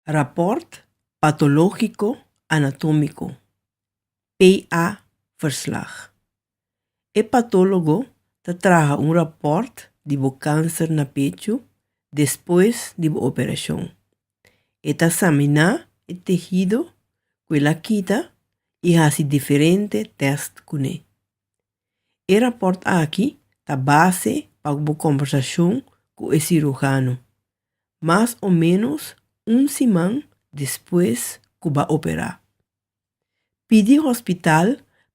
Rapport Patológiko Anatómiko, PA verslag. E patólogo ta traha un rapport di bo kanser na pechu despues di bo operashon. E ta saminá e tehido ku el a kita i hasi diferente tèst kuné. E rapòrt aki ta base pa bo kòmbersashon ku e sirujano mas o ménos un siman despues ku bo a operá. Pidi hospital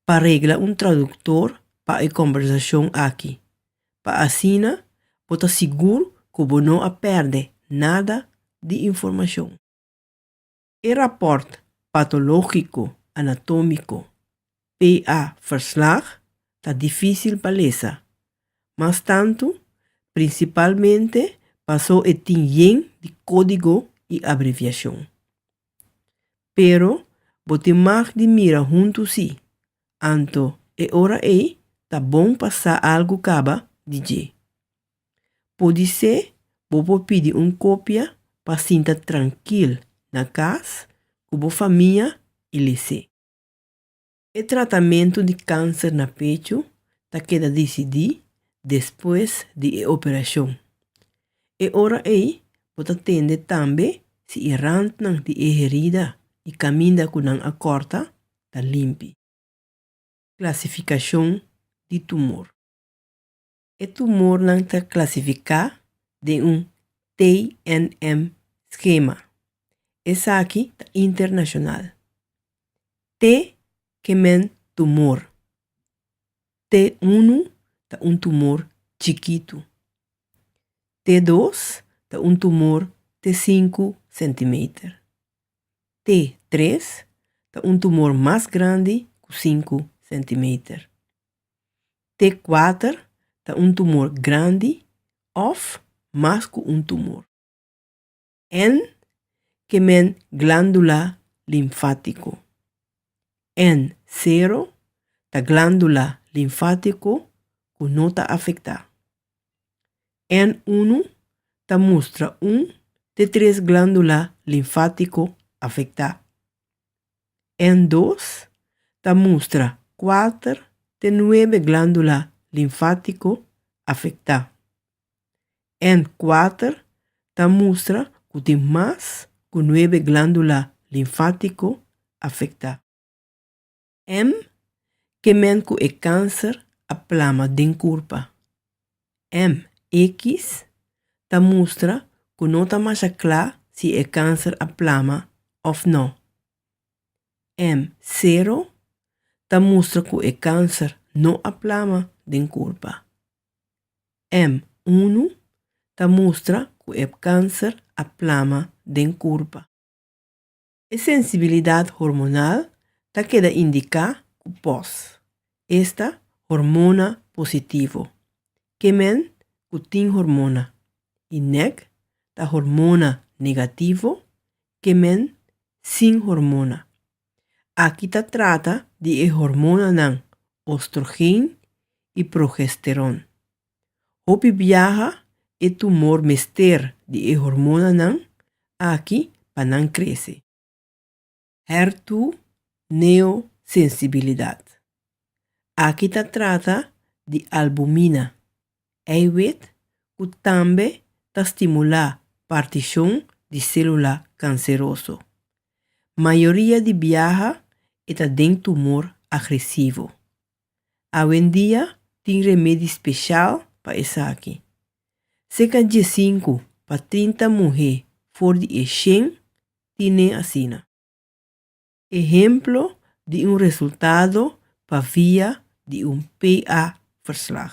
pa regla un traduktor pa e kòmbersashon aki pa asina bo ta sigur ku bo no a pèrdè nada di informashon. E rapport patologico anatomico, PA verslag, ta dificil pa lesa, mas tanto principalmente paso e tin yen di codigo y abreviacion. Pero bo tin mag di mira hunto si, anto e ora ey ta bon pa sa algo caba di dje. Podisé bo por pidi un kopia pa sinta trankil na kas ku bo famia i lese. E tratamentu di kanser na pechu ta keda disidí despues di e operashon. E ora ei bo ta tende tambe si e rantnan di e herida i kaminda ku nan a kòrta ta limpi. Klasifikashon di tumor. E tumornan ta klasifiká den un TNM skema. Esaki ta internashonal. T ke men tumor. T unu ta un tumor chikitu. T dos ta un tumor te sinku sentimeter. T tres ta un tumor mas grandi ku sinku sentimeter. T kuater ta un tumor grandi òf mas ku un tumor. N ke men glándula linfátiko. N sero ta glándula linfátiko ku no ta afektá. N unu ta mustra un te tres glándula linfátiko afektá. en dos ta mustra kuater te nuebe glándula linfátiko afektá. En kuater ta mustra ku tin mas ku nuebe glándula linfátiko afektá. M ke men ku e kánser a plama den kurpa. MX ta mustra ku no ta masha kla si e kanser a plama òf nò. M sero ta mustra ku e kanser no a plama den kurpa. M unu ta mustra ku e kanser a plama den kurpa. E sensibilidad hormonal ta keda indica cu pos esta hormona positivo. Kemen cu tin hormona y nec ta hormona negativo, kemen sin hormona. Aki ta trata di e hormonanan ostrogeen y progesteron. Hopi biaha e tumor mester di e hormonanan aki pa nan krese. Hertu neo sensibilidat. Aki ta trata di albumina, eiwit ku tambe ta stimulá partishon di sélula kanseroso. Mayoria di biaha e ta den tumor agresivo. Awendia tin remedi speshal pa esaki. Seka diesinku pa trinta muhé for di e shen tin n'e asina. Ehemplo di un resultado pa via di un PA-verslag.